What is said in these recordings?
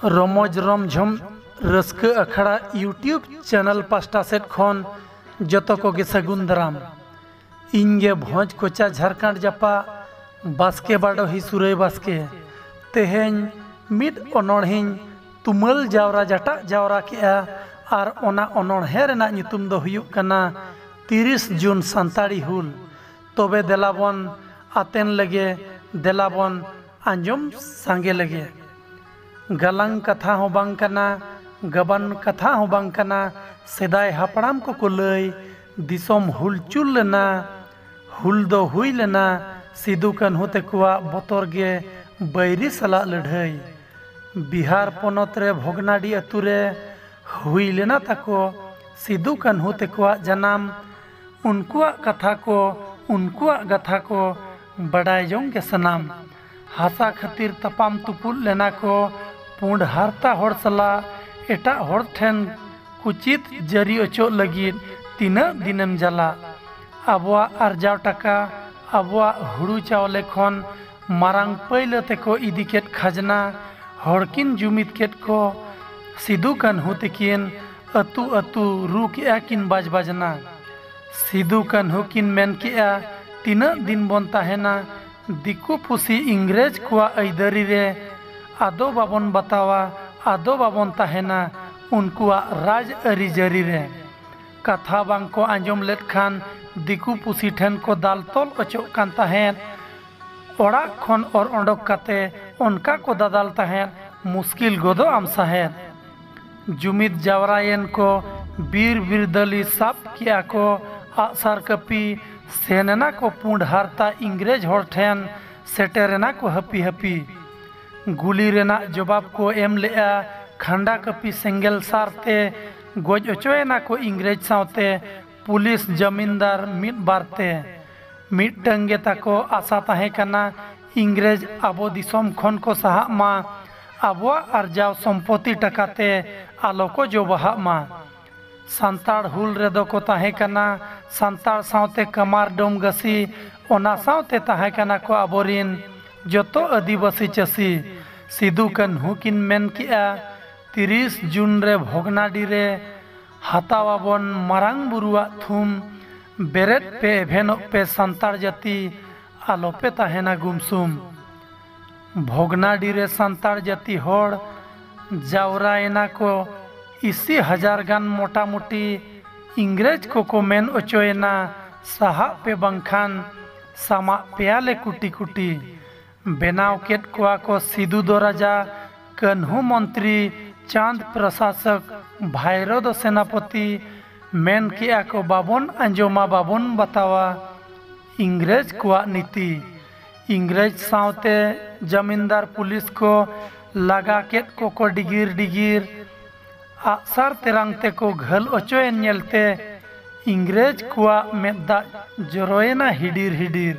ᱨᱚᱢᱚᱡᱽ ᱨᱚᱢᱡᱷᱚᱢ ᱨᱟᱹᱥᱠᱟᱹ ᱟᱠᱷᱲᱟ ᱤᱭᱩᱴᱤᱭᱩᱵᱽ ᱪᱮᱱᱮᱞ ᱯᱟᱥᱴᱟ ᱥᱮᱫ ᱠᱷᱚᱱ ᱡᱚᱛᱚ ᱠᱚᱜᱮ ᱥᱟᱹᱜᱩᱱ ᱫᱟᱨᱟᱢ ᱤᱧ ᱜᱮ ᱵᱷᱚᱸᱡᱽ ᱠᱚᱪᱟ ᱡᱷᱟᱨᱠᱟᱸᱰ ᱡᱟᱯᱟᱜ ᱵᱟᱥᱠᱮ ᱵᱟᱰᱚᱦᱤ ᱥᱩᱨᱟᱹᱭ ᱵᱟᱥᱠᱮ ᱛᱮᱦᱮᱧ ᱢᱤᱫ ᱚᱱᱚᱬᱦᱮᱧ ᱛᱩᱢᱟᱹᱞ ᱡᱟᱣᱨᱟ ᱡᱟᱴᱟᱜ ᱡᱟᱣᱨᱟ ᱠᱮᱜᱼᱟ ᱟᱨ ᱚᱱᱟ ᱚᱱᱚᱬᱦᱮ ᱨᱮᱱᱟᱜ ᱧᱩᱛᱩᱢ ᱫᱚ ᱦᱩᱭᱩᱜ ᱠᱟᱱᱟ ᱛᱤᱨᱤᱥ ᱡᱩᱱ ᱥᱟᱱᱛᱟᱲᱤ ᱦᱩᱞ ᱛᱚᱵᱮ ᱫᱮᱞᱟ ᱵᱚᱱ ᱟᱛᱮᱱ ᱞᱮᱜᱮ ᱫᱮᱞᱟ ᱵᱚᱱ ᱟᱸᱡᱚᱢ ᱥᱟᱸᱜᱮ ᱞᱮᱜᱮ ᱜᱟᱞᱟᱝ ᱠᱟᱛᱷᱟ ᱦᱚᱸ ᱵᱟᱝ ᱠᱟᱱᱟ ᱜᱟᱵᱟᱱ ᱠᱟᱛᱷᱟ ᱦᱚᱸ ᱵᱟᱝ ᱠᱟᱱᱟ ᱥᱮᱫᱟᱭ ᱦᱟᱯᱲᱟᱢ ᱠᱚᱠᱚ ᱞᱟᱹᱭ ᱫᱤᱥᱚᱢ ᱦᱩᱞᱪᱩᱞ ᱞᱮᱱᱟ ᱦᱩᱞ ᱫᱚ ᱦᱩᱭ ᱞᱮᱱᱟ ᱥᱤᱫᱩ ᱠᱟᱹᱱᱦᱩ ᱛᱮᱠᱚᱣᱟᱜ ᱵᱚᱛᱚᱨ ᱜᱮ ᱵᱟᱹᱭᱨᱤ ᱥᱟᱞᱟᱜ ᱞᱟᱹᱰᱷᱟᱹᱭ ᱵᱤᱦᱟᱨ ᱯᱚᱱᱚᱛ ᱨᱮ ᱵᱷᱚᱜᱽᱱᱟᱰᱤ ᱟᱹᱛᱩ ᱨᱮ ᱦᱩᱭ ᱞᱮᱱᱟ ᱛᱟᱠᱚ ᱥᱤᱫᱩ ᱠᱟᱹᱱᱦᱩ ᱛᱮᱠᱚᱣᱟᱜ ᱡᱟᱱᱟᱢ ᱩᱱᱠᱩᱣᱟᱜ ᱠᱟᱛᱷᱟ ᱠᱚ ᱩᱱᱠᱩᱣᱟᱜ ᱜᱟᱛᱷᱟ ᱠᱚ ᱵᱟᱰᱟᱭ ᱡᱚᱝ ᱜᱮ ᱥᱟᱱᱟᱢ ᱦᱟᱥᱟ ᱠᱷᱟᱹᱛᱤᱨ ᱛᱟᱯᱟᱢ ᱛᱩᱯᱩᱫ ᱞᱮᱱᱟ ᱠᱚ ᱯᱩᱸᱰ ᱦᱟᱨᱛᱟ ᱦᱚᱲ ᱥᱟᱞᱟᱜ ᱮᱴᱟᱜ ᱦᱚᱲ ᱴᱷᱮᱱ ᱠᱩᱪᱤᱛ ᱡᱟᱹᱨᱤ ᱚᱪᱚᱜ ᱞᱟᱹᱜᱤᱫ ᱛᱤᱱᱟᱹᱜ ᱫᱤᱱᱮᱢ ᱡᱟᱞᱟ ᱟᱵᱚᱣᱟᱜ ᱟᱨᱡᱟᱣ ᱴᱟᱠᱟ ᱟᱵᱚᱣᱟᱜ ᱦᱩᱲᱩ ᱪᱟᱣᱞᱮ ᱠᱷᱚᱱ ᱢᱟᱨᱟᱝ ᱯᱟᱹᱭᱞᱟᱹ ᱛᱮᱠᱚ ᱤᱫᱤ ᱠᱮᱫ ᱠᱷᱟᱡᱽᱱᱟ ᱦᱚᱲ ᱠᱤᱱ ᱡᱩᱢᱤᱫ ᱠᱮᱫ ᱠᱚ ᱥᱤᱫᱩ ᱠᱟᱹᱱᱦᱩ ᱛᱤᱠᱤᱱ ᱟᱹᱛᱩ ᱟᱹᱛᱩ ᱨᱩ ᱠᱮᱜᱼᱟ ᱠᱤᱱ ᱵᱟᱡᱽ ᱵᱟᱡᱽᱱᱟ ᱥᱤᱫᱩ ᱠᱟᱹᱱᱦᱩ ᱠᱤᱱ ᱢᱮᱱ ᱠᱮᱜᱼᱟ ᱛᱤᱱᱟᱹᱜ ᱫᱤᱱ ᱵᱚᱱ ᱛᱟᱦᱮᱱᱟ ᱫᱤᱠᱩ ᱯᱩᱥᱤ ᱤᱝᱨᱮᱡᱽ ᱠᱚᱣᱟᱜ ᱟᱹᱭᱫᱟᱹᱨᱤ ᱨᱮ ᱟᱫᱚ ᱵᱟᱵᱚᱱ ᱵᱟᱛᱟᱣᱟ ᱟᱫᱚ ᱵᱟᱵᱚᱱ ᱛᱟᱦᱮᱱᱟ ᱩᱱᱠᱩᱣᱟᱜ ᱨᱟᱡᱽ ᱟᱹᱨᱤ ᱡᱟᱹᱨᱤ ᱨᱮ᱾ ᱠᱟᱛᱷᱟ ᱵᱟᱝ ᱠᱚ ᱟᱸᱡᱚᱢ ᱞᱮᱫ ᱠᱷᱟᱱ ᱫᱤᱠᱩ ᱯᱩᱥᱤ ᱴᱷᱮᱱ ᱠᱚ ᱫᱟᱞ ᱛᱚᱞ ᱚᱪᱚᱜ ᱠᱟᱱ ᱛᱟᱦᱮᱸᱫ, ᱚᱲᱟᱜ ᱠᱷᱚᱱ ᱚᱨ ᱚᱰᱚᱠ ᱠᱟᱛᱮ ᱚᱱᱠᱟ ᱠᱚ ᱫᱟᱫᱟᱞ ᱛᱟᱦᱮᱸᱫ ᱢᱩᱥᱠᱤᱞ ᱜᱚᱫᱚᱜ ᱟᱢ ᱥᱟᱦᱮᱫ᱾ ᱡᱩᱢᱤᱫ ᱡᱟᱣᱨᱟᱭᱮᱱ ᱠᱚ ᱵᱤᱨ ᱵᱤᱨᱫᱟᱹᱞᱤ ᱥᱟᱵ ᱠᱮᱜᱼᱟ ᱠᱚ ᱟᱜᱼᱥᱟᱨ ᱠᱟᱹᱯᱤ ᱥᱮᱱ ᱮᱱᱟ ᱠᱚ ᱯᱩᱸᱰ ᱦᱟᱨᱛᱟ ᱤᱝᱨᱮᱡᱽ ᱦᱚᱲ ᱴᱷᱮᱱ ᱥᱮᱴᱮᱨ ᱮᱱᱟ ᱠᱚ ᱦᱟᱹᱯᱤ ᱦᱟᱹᱯᱤ ᱜᱩᱞᱤ ᱨᱮᱱᱟᱜ ᱡᱚᱵᱟᱵᱽ ᱠᱚ ᱮᱢ ᱞᱮᱜᱼᱟ ᱠᱷᱟᱱᱰᱟ ᱠᱟᱹᱯᱤ ᱥᱮᱸᱜᱮᱞ ᱥᱟᱨ ᱛᱮ ᱜᱚᱡ ᱚᱪᱚ ᱮᱱᱟ ᱠᱚ ᱤᱝᱨᱮᱡᱽ ᱥᱟᱶᱛᱮ ᱯᱩᱞᱤᱥ ᱡᱟᱢᱤᱱᱫᱟᱨ ᱢᱤᱫ ᱵᱟᱨ ᱛᱮ ᱢᱤᱫᱴᱟᱹᱝ ᱜᱮ ᱛᱟᱠᱚ ᱟᱥᱟ ᱛᱟᱦᱮᱸ ᱠᱟᱱᱟ ᱤᱝᱨᱮᱡᱽ ᱟᱵᱚ ᱫᱤᱥᱚᱢ ᱠᱷᱚᱱ ᱠᱚ ᱥᱟᱦᱟᱜ ᱢᱟ ᱟᱵᱚᱣᱟᱜ ᱟᱨᱡᱟᱣ ᱥᱚᱢᱯᱚᱛᱤ ᱴᱟᱠᱟ ᱛᱮ ᱟᱞᱚ ᱠᱚ ᱡᱚ ᱵᱟᱦᱟᱜ ᱢᱟ᱾ ᱥᱟᱱᱛᱟᱲ ᱦᱩᱞ ᱨᱮᱫᱚ ᱠᱚ ᱛᱟᱦᱮᱸ ᱠᱟᱱᱟ ᱥᱟᱱᱛᱟᱲ ᱥᱟᱶᱛᱮ ᱠᱟᱢᱟᱨ ᱰᱚᱢᱜᱟᱹᱥᱤ ᱚᱱᱟ ᱥᱟᱶᱛᱮ ᱛᱟᱦᱮᱸ ᱠᱟᱱᱟ ᱠᱚ ᱟᱵᱚ ᱨᱤᱱ ᱡᱚᱛᱚ ᱟᱹᱫᱤᱵᱟᱹᱥᱤ ᱪᱟᱹᱥᱤ᱾ ᱥᱤᱫᱩ ᱠᱟᱹᱱᱦᱩ ᱠᱤᱱ ᱢᱮᱱ ᱠᱮᱫᱼᱟ ᱛᱤᱨᱤᱥ ᱡᱩᱱ ᱨᱮ ᱵᱷᱚᱜᱽᱱᱟᱰᱤ ᱨᱮ ᱦᱟᱛᱟᱣ ᱟᱵᱚᱱ ᱢᱟᱨᱟᱝ ᱵᱩᱨᱩᱣᱟᱜ ᱛᱷᱩᱢ ᱵᱮᱨᱮᱫ ᱯᱮ ᱮᱵᱷᱮᱱᱚᱜ ᱯᱮ ᱥᱟᱱᱛᱟᱲ ᱡᱟᱹᱛᱤ ᱟᱞᱚ ᱯᱮ ᱛᱟᱦᱮᱸᱱᱟ ᱜᱩᱢᱥᱩᱢ᱾ ᱵᱷᱚᱜᱽᱱᱟᱰᱤ ᱨᱮ ᱥᱟᱱᱛᱟᱲ ᱡᱟᱹᱛᱤ ᱦᱚᱲ ᱡᱟᱣᱨᱟ ᱮᱱᱟ ᱠᱚ ᱤᱥᱤ ᱦᱟᱡᱟᱨ ᱜᱟᱱ ᱢᱚᱴᱟ ᱢᱩᱴᱤ ᱤᱝᱨᱮᱡᱽ ᱠᱚ ᱠᱚ ᱢᱮᱱ ᱚᱪᱚ ᱮᱱᱟ ᱥᱟᱦᱟᱜ ᱯᱮ ᱵᱟᱝᱠᱷᱟᱱ ᱥᱟᱢᱟᱜ ᱯᱮᱭᱟ ᱞᱮ ᱠᱩᱴᱤ ᱠᱩᱴᱤ ᱵᱮᱱᱟᱣ ᱠᱮᱫ ᱠᱚᱣᱟ ᱠᱚ ᱥᱤᱫᱩ ᱫᱚ ᱨᱟᱡᱟ ᱠᱟᱹᱱᱦᱩ ᱢᱚᱱᱛᱨᱤ ᱪᱟᱸᱫᱽ ᱯᱨᱚᱥᱟᱥᱚᱠ ᱵᱷᱟᱭᱨᱚ ᱫᱚ ᱥᱮᱱᱟᱯᱚᱛᱤ ᱢᱮᱱ ᱠᱮᱫᱼᱟ ᱠᱚ ᱵᱟᱵᱚᱱ ᱟᱸᱡᱚᱢᱟ ᱵᱟᱵᱚᱱ ᱵᱟᱛᱟᱣᱟ ᱤᱝᱨᱮᱡᱽ ᱠᱚᱣᱟᱜ ᱱᱤᱛᱤ ᱤᱝᱨᱮᱡᱽ ᱥᱟᱶᱛᱮ ᱡᱟᱢᱤᱱᱫᱟᱨ ᱯᱩᱞᱤᱥ ᱠᱚ ᱞᱟᱜᱟ ᱠᱮᱫ ᱠᱚᱠᱚ ᱰᱤᱜᱤᱨ ᱰᱤᱜᱤᱨ ᱟᱜᱼᱥᱟᱨ ᱛᱮᱨᱟᱝ ᱛᱮᱠᱚ ᱜᱷᱟᱹᱞ ᱚᱪᱚᱭᱮᱱ ᱧᱮᱞᱛᱮ ᱤᱝᱨᱮᱡᱽ ᱠᱚᱣᱟᱜ ᱢᱮᱫ ᱫᱟᱜ ᱡᱚᱨᱚᱭᱮᱱᱟ ᱦᱤᱰᱤᱨ ᱦᱤᱰᱤᱨ᱾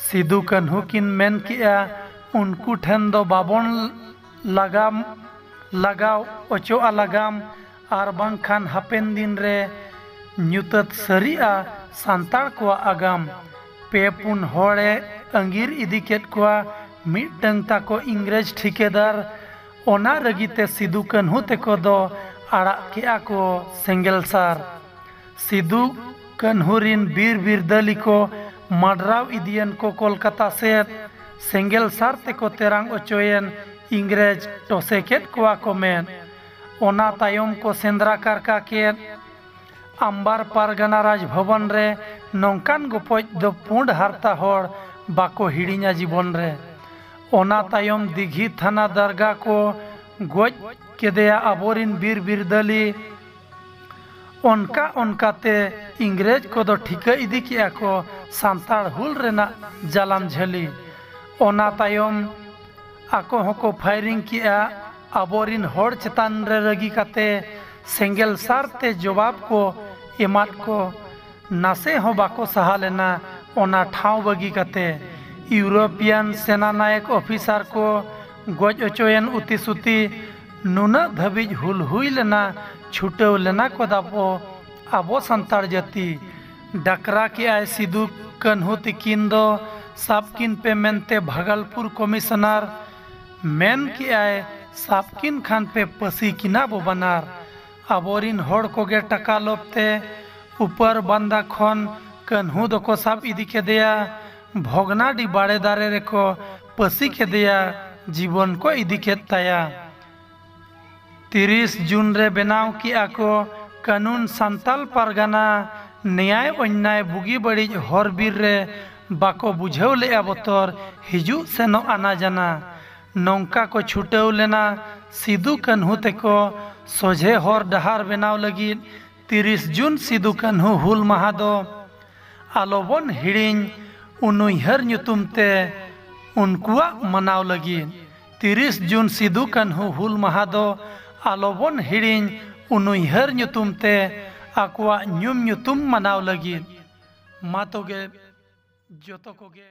ᱥᱤᱫᱩ ᱠᱟᱹᱱᱦᱩ ᱠᱤᱱ ᱢᱮᱱ ᱠᱮᱫᱼᱟ ᱩᱱᱠᱩ ᱴᱷᱮᱱ ᱫᱚ ᱵᱟᱵᱚᱱ ᱞᱟᱜᱟᱢ ᱞᱟᱜᱟᱣ ᱚᱪᱚᱜᱼᱟ ᱞᱟᱜᱟᱢ ᱟᱨ ᱵᱟᱝᱠᱷᱟᱱ ᱦᱟᱯᱮᱱ ᱫᱤᱱ ᱨᱮ ᱧᱩᱛᱟᱹᱛ ᱥᱟᱹᱨᱤᱜᱼᱟ ᱥᱟᱱᱛᱟᱲ ᱠᱚᱣᱟᱜ ᱟᱜᱟᱢ᱾ ᱯᱮ ᱯᱩᱱ ᱦᱚᱲ ᱮ ᱟᱺᱜᱤᱨ ᱤᱫᱤ ᱠᱮᱫ ᱠᱚᱣᱟ ᱢᱤᱫᱴᱟᱹᱝ ᱛᱟᱠᱚ ᱤᱝᱨᱮᱡᱽ ᱴᱷᱤᱠᱟᱹᱫᱟᱨ᱾ ᱚᱱᱟ ᱨᱟᱹᱜᱤ ᱛᱮ ᱥᱤᱫᱩ ᱠᱟᱹᱱᱦᱩ ᱛᱮᱠᱚ ᱫᱚ ᱟᱲᱟᱜ ᱠᱮᱫᱼᱟ ᱠᱚ ᱥᱮᱸᱜᱮᱞ ᱥᱟᱨ᱾ ᱥᱤᱫᱩ ᱠᱟᱹᱱᱦᱩ ᱨᱤᱱ ᱵᱤᱨ ᱵᱤᱨᱫᱟᱹᱞᱤ ᱠᱚ ᱢᱟᱰᱨᱟᱣ ᱤᱫᱤᱭᱮᱱ ᱠᱚ ᱠᱚᱞᱠᱟᱛᱟ ᱥᱮᱫ᱾ ᱥᱮᱸᱜᱮᱞ ᱥᱟᱨ ᱛᱮᱠᱚ ᱛᱮᱨᱟᱝ ᱚᱪᱚᱭᱮᱱ ᱤᱝᱨᱮᱡᱽ ᱴᱚᱥᱮ ᱠᱮᱫ ᱠᱚᱣᱟ ᱠᱚ ᱢᱮᱫ᱾ ᱚᱱᱟ ᱛᱟᱭᱚᱢ ᱠᱚ ᱥᱮᱸᱫᱽᱨᱟ ᱠᱟᱨᱠᱟ ᱠᱮᱫ ᱟᱢᱵᱟᱨ ᱯᱟᱨᱜᱟᱱᱟ ᱨᱟᱡᱽ ᱵᱷᱚᱵᱚᱱ ᱨᱮ ᱱᱚᱝᱠᱟᱱ ᱜᱚᱯᱚᱡ ᱫᱚ ᱯᱩᱸᱰ ᱦᱟᱨᱛᱟ ᱦᱚᱲ ᱵᱟᱠᱚ ᱦᱤᱲᱤᱧᱟ ᱡᱤᱵᱚᱱ ᱨᱮ᱾ ᱚᱱᱟ ᱛᱟᱭᱚᱢ ᱫᱤᱜᱷᱤ ᱛᱷᱟᱱᱟ ᱫᱟᱨᱜᱟ ᱠᱚ ᱜᱚᱡ ᱠᱮᱫᱮᱭᱟ ᱟᱵᱚ ᱨᱤᱱ ᱵᱤᱨ ᱵᱤᱨᱫᱟᱹᱞᱤ᱾ ᱚᱱᱠᱟ ᱚᱱᱠᱟ ᱛᱮ ᱤᱝᱨᱮᱡᱽ ᱠᱚ ᱫᱚ ᱴᱷᱤᱠᱟᱹ ᱤᱫᱤ ᱠᱮᱫᱼᱟ ᱠᱚ ᱥᱟᱱᱛᱟᱲ ᱦᱩᱞ ᱨᱮᱱᱟᱜ ᱡᱟᱞᱟᱢ ᱡᱷᱟᱹᱞᱤ᱾ ᱚᱱᱟ ᱛᱟᱭᱚᱢ᱾ ᱟᱠᱚ ᱦᱚᱸᱠᱚ ᱯᱷᱟᱭᱨᱤᱝ ᱠᱮᱜᱼᱟ ᱟᱵᱚᱨᱤᱱ ᱦᱚᱲ ᱪᱮᱛᱟᱱ ᱨᱮ ᱨᱟᱹᱜᱤ ᱠᱟᱛᱮ ᱥᱮᱸᱜᱮᱞ ᱥᱟᱨ ᱛᱮ ᱡᱚᱵᱟᱵ ᱠᱚ ᱮᱢᱟᱫ ᱠᱚ ᱱᱟᱥᱮ ᱦᱚᱸ ᱵᱟᱠᱚ ᱥᱟᱦᱟ ᱞᱮᱱᱟ ᱚᱱᱟ ᱴᱷᱟᱶ ᱵᱟᱹᱜᱤ ᱠᱟᱛᱮ ᱤᱣᱨᱳᱯᱤᱭᱟᱱ ᱥᱮᱱᱟ ᱱᱟᱭᱮᱠ ᱚᱯᱷᱤᱥᱟᱨ ᱠᱚ ᱜᱚᱡ ᱚᱪᱚᱭᱮᱱ ᱩᱛᱤ ᱥᱩᱛᱤ ᱱᱩᱱᱟᱹᱜ ᱫᱷᱟᱹᱵᱤᱡ ᱦᱩᱞ ᱦᱩᱭ ᱞᱮᱱᱟ ᱪᱷᱩᱴᱟᱹᱣ ᱞᱮᱱᱟ ᱠᱚ ᱫᱟᱯᱚ ᱟᱵᱚ ᱥᱟᱱᱛᱟᱲ ᱡᱟᱹᱛᱤ ᱰᱟᱠᱨᱟ ᱠᱮᱫᱼᱟᱭ ᱥᱤᱫᱩ ᱠᱟᱹᱱᱦᱩ ᱛᱤᱠᱤᱱ ᱫᱚ ᱥᱟᱵ ᱠᱤᱱ ᱯᱮ ᱢᱮᱱᱛᱮ ᱵᱷᱟᱜᱟᱞᱯᱩᱨ ᱠᱚᱢᱤᱥᱚᱱᱟᱨ ᱢᱮᱱ ᱠᱮᱫᱼᱟᱭ ᱥᱟᱵ ᱠᱤᱱ ᱠᱷᱟᱱ ᱯᱮ ᱯᱟᱹᱥᱤ ᱠᱤᱱᱟ ᱵᱚ ᱵᱟᱱᱟᱨ ᱟᱵᱚᱨᱤᱱ ᱦᱚᱲ ᱠᱚᱜᱮ ᱴᱟᱠᱟ ᱞᱚᱵᱽ ᱛᱮ ᱩᱯᱟᱹᱨ ᱵᱟᱱᱫᱟ ᱠᱷᱚᱱ ᱠᱟᱹᱱᱦᱩ ᱫᱚᱠᱚ ᱥᱟᱵ ᱤᱫᱤ ᱠᱮᱫᱮᱭᱟ ᱵᱷᱚᱜᱽᱱᱟᱰᱤ ᱵᱟᱲᱮ ᱫᱟᱨᱮ ᱨᱮᱠᱚ ᱯᱟᱹᱥᱤ ᱠᱮᱫᱮᱭᱟ ᱡᱤᱵᱚᱱ ᱠᱚ ᱤᱫᱤ ᱠᱮᱫ ᱛᱟᱭᱟ᱾ ᱛᱤᱨᱤᱥ ᱡᱩᱱ ᱨᱮ ᱵᱮᱱᱟᱣ ᱠᱮᱜᱼᱟ ᱠᱚ ᱠᱟᱹᱱᱩᱱ ᱥᱟᱱᱛᱟᱞ ᱯᱟᱨᱜᱟᱱᱟ ᱱᱮᱭᱟᱭ ᱚᱧᱱᱟᱭ ᱵᱩᱜᱤ ᱵᱟᱹᱲᱤᱡ ᱦᱚᱨ ᱵᱤᱨ ᱨᱮ ᱵᱟᱠᱚ ᱵᱩᱡᱷᱟᱹᱣ ᱞᱮᱜᱼᱟ ᱵᱚᱛᱚᱨ ᱦᱤᱡᱩᱜ ᱥᱮᱱᱚᱜ ᱟᱱᱟ ᱡᱟᱱᱟ ᱱᱚᱝᱠᱟ ᱠᱚ ᱪᱷᱩᱴᱟᱹᱣ ᱞᱮᱱᱟ ᱥᱤᱫᱩ ᱠᱟᱹᱱᱦᱩ ᱛᱮᱠᱚ ᱥᱚᱡᱷᱮ ᱦᱚᱨ ᱰᱟᱦᱟᱨ ᱵᱮᱱᱟᱣ ᱞᱟᱹᱜᱤᱫ ᱛᱤᱨᱤᱥ ᱡᱩᱱ ᱥᱤᱫᱩ ᱠᱟᱹᱱᱦᱩ ᱦᱩᱞ ᱢᱟᱦᱟ ᱫᱚ ᱟᱞᱚ ᱵᱚᱱ ᱦᱤᱲᱤᱧ ᱩᱱᱩᱭᱦᱟᱹᱨ ᱧᱩᱛᱩᱢ ᱛᱮ ᱩᱱᱠᱩᱣᱟᱜ ᱢᱟᱱᱟᱣ ᱞᱟᱹᱜᱤᱫ ᱛᱤᱨᱤᱥ ᱡᱩᱱ ᱥᱤᱫᱩ ᱠᱟᱹᱱᱦᱩ ᱦᱩᱞ ᱢᱟᱦᱟ ᱫᱚ ᱟᱞᱚ ᱵᱚᱱ ᱦᱤᱲᱤᱧ ᱩᱱᱩᱭᱦᱟᱹᱨ ᱧᱩᱛᱩᱢ ᱛᱮ ᱟᱠᱚᱣᱟᱜ ᱧᱩᱢ ᱧᱩᱛᱩᱢ ᱢᱟᱱᱟᱣ ᱞᱟᱹᱜᱤᱫ ᱢᱟ ᱛᱚᱜᱮ ᱡᱚᱛᱚ ᱠᱚᱜᱮ